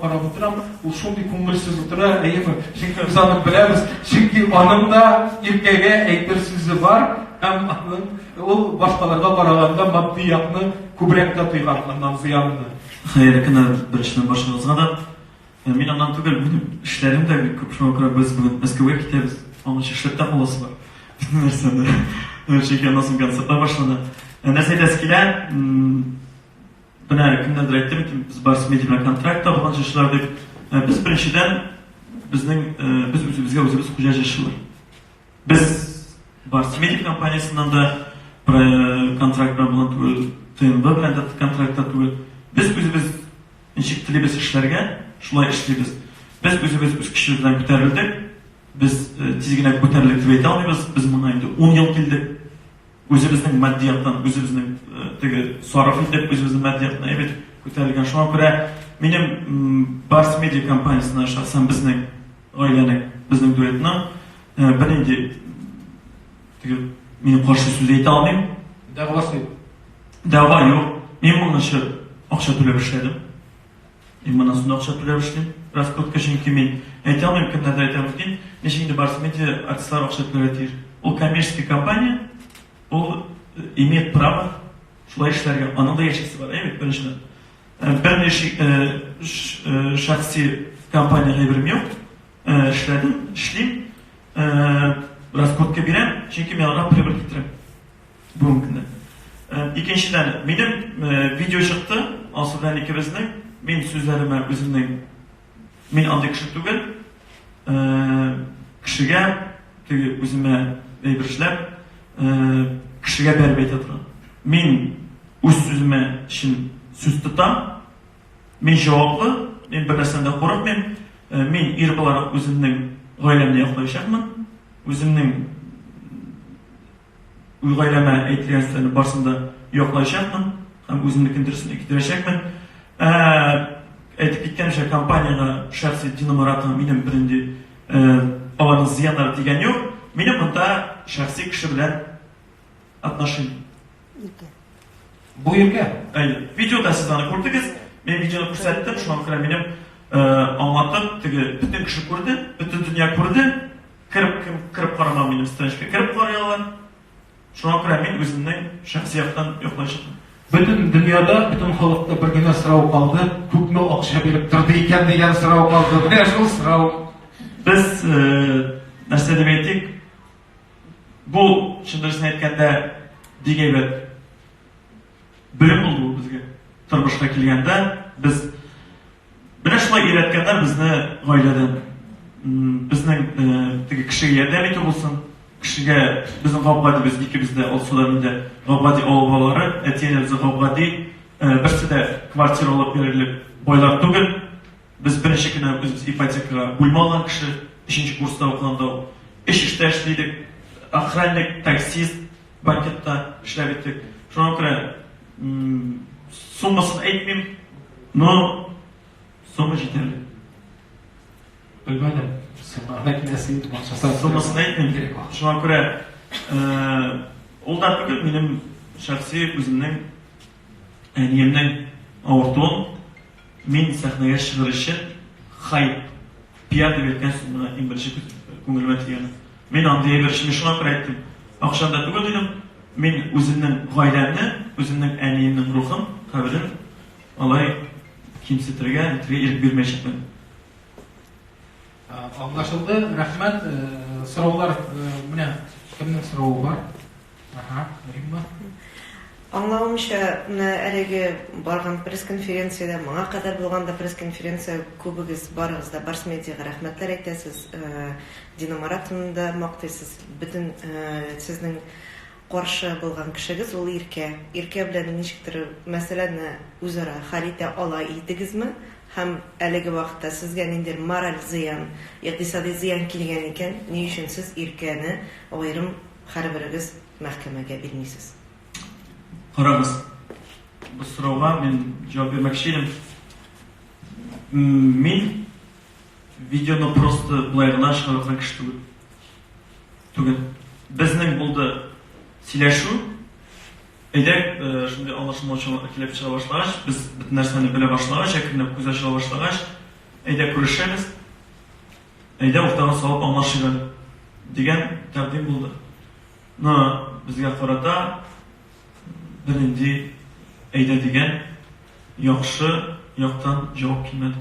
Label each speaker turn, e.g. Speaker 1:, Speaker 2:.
Speaker 1: карап утырам, ул шундый күңелсез утыра, әйеме? Чөнки без аны беләбез, чөнки аның да иркәгә әйтер сүзе бар, һәм аның ул башкаларга караганда матди якны күбрәк тә тойган аннан зыянны. Хәерле көннәр
Speaker 2: беренчедән баршагызга да. Ә мин аннан түгел, минем эшләрем дә бик күп, шуңа күрә без бүген Мәскәүгә китәбез. Аның өчен эшләп тә каласы бар. Безнең нәрсәдә. Чөнки аннан соң концертлар башлана. Ә нәрсә әйтәсе килә? Менә кемнәндер әйттем икән, без бар семья белән контракт алган җырчылар дип. Ә без беренчедән безнең э, без үзебезгә үзебез хуҗа җырчылар. Без бар семья компаниясеннән дә э, контракт белән булган түгел, ТНВ белән дә контрактта түгел. Без үзебез ничек телибез эшләргә, шулай эшлибез. Без үзебез үз көчебез белән күтәрелдек. Без э, тиз генә күтәрелдек дип әйтә алмыйбыз. Без моңа инде 10 ел килдек. Үзебезнең матди яктан, үзебезнең теге сарыф итеп, үзебезнең матди яктан әйбәт күтәрелгән. Шуңа күрә минем Барс Медиа компаниясенә шәхсән безнең гаиләнең, безнең дуэтның бернинди теге мин каршы сүз әйтә алмыйм. Дәгъвасы юк. Дәгъва юк. Мин моның өчен акча түләп эшләдем. Мин моннан соң да акча түләп эшлим. Раскрутка, чөнки мин әйтә алмыйм, кемнәрдә әйтә мөмкин. Ничек инде барысы медиа артистлар акча түләргә тиеш. Ул коммерческий компания, ул э, имеет право шулай эшләргә. Аның да яшисе бар, әйбәт беренчедән. Э, Берни ши- э, ш- э, шәхси компания әйберем юк. Э, Эшләдем, эшлим. Э, Раскрутка бирәм, чөнки мин аларга прибыль китерәм. Бүгенге көнне. Икенчедән, минем видео чыкты, ансы белән икебезнең. Мин сүзләремә үземнең мин андый кеше түгел. Кешегә теге үземә әйбер эшләп, кешегә бәреп әйтә торам. Мин үз сүземә чын сүз тотам. Мин җаваплы, мин бернәрсәдән дә курыкмыйм. Мин ир буларак үземнең гаиләмне яклаячакмын. Үземнең Үз гаиләмә әйтелгән сүзләрнең барысын да яклаячакмын һәм үземнекен дөресен китерәчәкмен. Ә, әйтеп киткәнемчә, компаниягә шәхси Дина Маратова минем бернинди ә, аларның зыяннары тигән юк. Минем монда шәхси кеше белән отношение. Иркә.
Speaker 1: Бу иркә. Әйе. Видеода
Speaker 2: сез аны күрдегез. Мин видеоны күрсәттем, шуңа күрә минем э, аңлатып, теге бөтен кеше күрде, бөтен дөнья күрде. Кереп кем кереп карамаган минем страничка кереп карый алар. Шуңа күрә мин үземнең шәхси яктан йоклый чыктым. Бөтен дөньяда,
Speaker 1: бөтен халыкта бер генә сорау калды, күпме акча биреп торды икән дигән сорау калды. Менә шул сорау. Без
Speaker 2: нәрсә дип әйтик? Бу чын дөресен әйткәндә бик әйбәт белем булды бу безгә. Тормышка килгәндә без Менә шулай өйрәткәннәр безне гаиләдә. Безнең теге кешегә ярдәм итү булсын, кешегә безнең Габгади без икебез дә Алсуда мин дә Габгади авыл балалары, әти-әнибез Габгади, берсе дә квартира алып бирерлек байлар түгел. Без беренче кенә үзебез ипотекага бүлмә алган кеше, өченче курста укыганда ук. Өч эштә эшли идек, охранник, таксист, Банкетта эшләп иттек. Шуңа күрә суммасын әйтмим, но сумма җитәрлек. Белмәдем.
Speaker 1: Суммага киләсе инде бакчасы. Суммасын
Speaker 2: әйтмим кирәк. Шуңа күрә ул да түгел, минем шәхси үземнең Әниемнең авыртуын мин сәхнәгә чыгыр өчен хай, пиар дип әйткәнсең, менә иң беренче күңелемә тигәне. Мин андый әйбер өчен мин шуңа күрә әйттем. Акчаны да түгел дидем. Мин үземнең гаиләмне, үземнең әниемнең рухын, каберен алай кимсетергә, әйтергә ирек бирмәячәкмен.
Speaker 1: Аңлашылды, рәхмәт. Сораулар, менә кемнең соравы бар? Аһа, Римма.
Speaker 3: Аңлавымча, менә әлеге барган пресс-конференциядә, моңа кадәр булган да пресс-конференция күбегез, барыгыз да Барс-медиага рәхмәтләр әйтәсез, Динамаратны да мактыйсыз, бөтен сезнең Каршы булган кешегез ул Иркә. Иркә белән ничектер мәсьәләне үзара хәл итә ала идегезме? Һәм әлеге вакытта сезгә ниндидер мораль зыян, икътисади зыян килгән икән, ни өчен сез Иркәне аерым һәрберегез мәхкәмәгә бирмисез?
Speaker 2: Карагыз, бу сорауга мин җавап бирмәкче идем. Мин видеоны просто болай гына чыгарып аткан кеше түгел. түгел. Безнең булды сөйләшү. Әйдә, шундый аңлашылмаучанлык килеп чыга башлагач, без бөтен нәрсәне белә башлагач, әкренләп күз ачыла башлагач, әйдә күрешәбез, әйдә уртага салып аңлашыйк әле, дигән тәкъдим булды. Но безгә карата бернинди әйдә дигән яхшы яктан җавап килмәде.